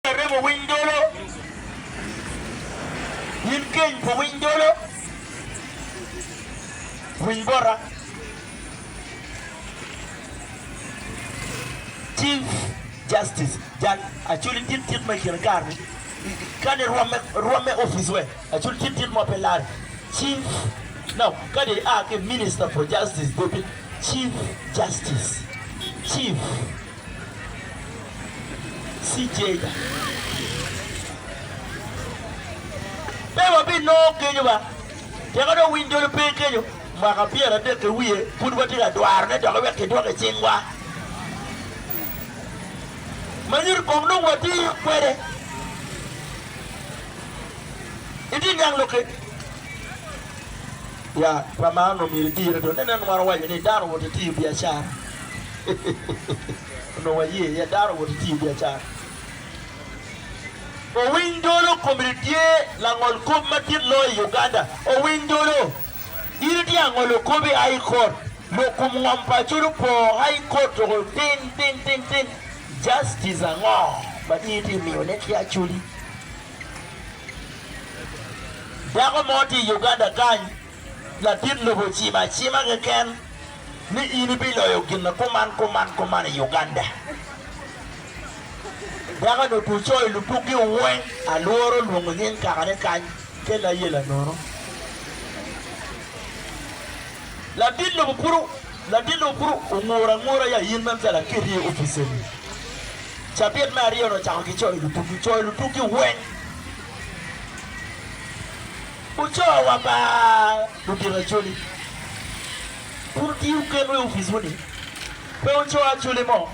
Aremo winy dolo, in geny pa winy dolo, winy bota. Chief Justice Jack Acholi tye tit ma i kine kare-ni kadi rwamme rwamme opic wek Acholi tye tit ma pe lar Chief no kadi i a ki Minister for Justice dope Chief Justice Chief Cicega. Pe wabinongo kenyo ba, tika dong winy dolo pe kenyo? Mwaka pyeradek ki wiye pud watye ka dwarone doki wek kidwok i cingwa, ma nyuto kong nongo watiyo kwede itye niang lok kec. Ya, pa man omyero idirre dong. Ineno ma waco ni dano owoto ki tiyo biacara? Onongo waye iye, dano owoto ki tiyo biacara. Owiny Dolo kombeddi tye langol kop madit loyo i Uganda. Owiny Dolo, in itye ka ngolo kop i High Court, lok kom ngom pa Acholi opo, High Court tuko ting ting ting ting, Justice ango ma in itye ka miyone ki Acholi? Dako mo tye i Uganda kany, ladit lobo ocimo acima keken ni in ibiloyo gin kuman kuman kuman i Uganda. Dakoni otwo co i lubukgi weng, alwora olwongo nying kakane kany kel ayela nono. Ladit lobo pud. Ladino kuru ongur angura ya in meno ca laketi i opic eni. Cabit me aryo-ni ocako ki coyo lutugi. Coyo lutugi weng gucoo wa ba ludito acoli kun otiyo gen wa i opic wuni. Pe ocoo acoli mo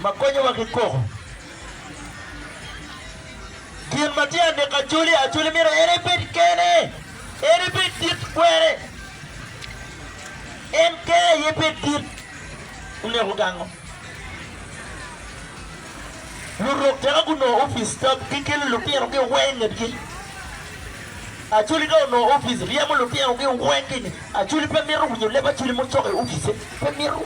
ma konyowa ki koko. Gin ma tye anek acoli, acoli myero en ebed kene. En ibed dit kwere, en kene aye bed dit. Oneko gango. Lurok tika gunongo opic ka gikelo lutino gi weng ingetgi? Acoli ka onongo opic ryemo lutino gi weng ki inge, acoli pe mito winyo leb acoli mo coko i opice, pe mito.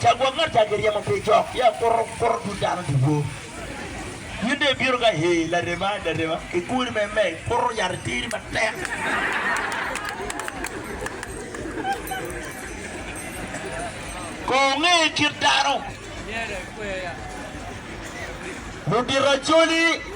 Ca gwok ngat ca giryemo pe cok, ya kuto kuto tut dano ducu. In dong ibino ka he larema larema ki kori me me kuto yat iteri matek. Kong wunge kit dano, ludito acoli.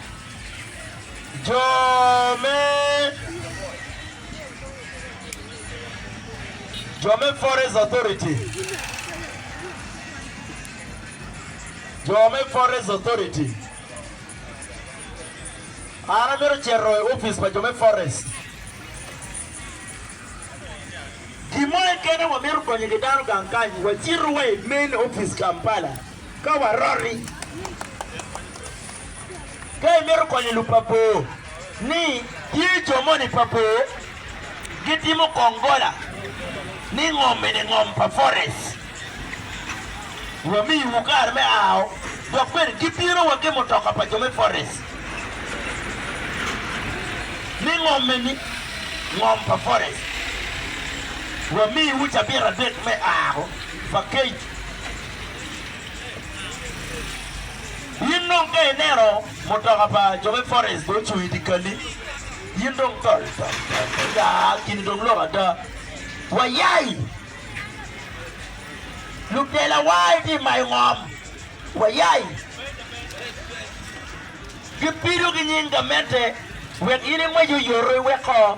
Jo me Jo me Forest Authority Jo me Forest Authority An amito cito i opic pa jo me forest Gin mo keken aye wamito konyo ki dano gang kany wacito wa i main opic Kampala. Ka waroti, ka imito konyo lub pa bor ni tye jo moni pa bor gitimo kong gola ni ngom eni ngom pa forest wamiyiwu kare me ao dok bene gibino wa ki mutoka pa jo me forest ni ngom eni ngom pa forest wamiyiwu cabit adek me ao pa kec In dong ka ineno mutoka pa jo me forest gucung i dyekal-li, in dong tol tol tol tol, ya, gin-ni dong lok ada. Wayai! Lutelawa gitye ka mayo ngom. Wayai! Gipido ki nying gamente wek in ingwec oyoto iweko.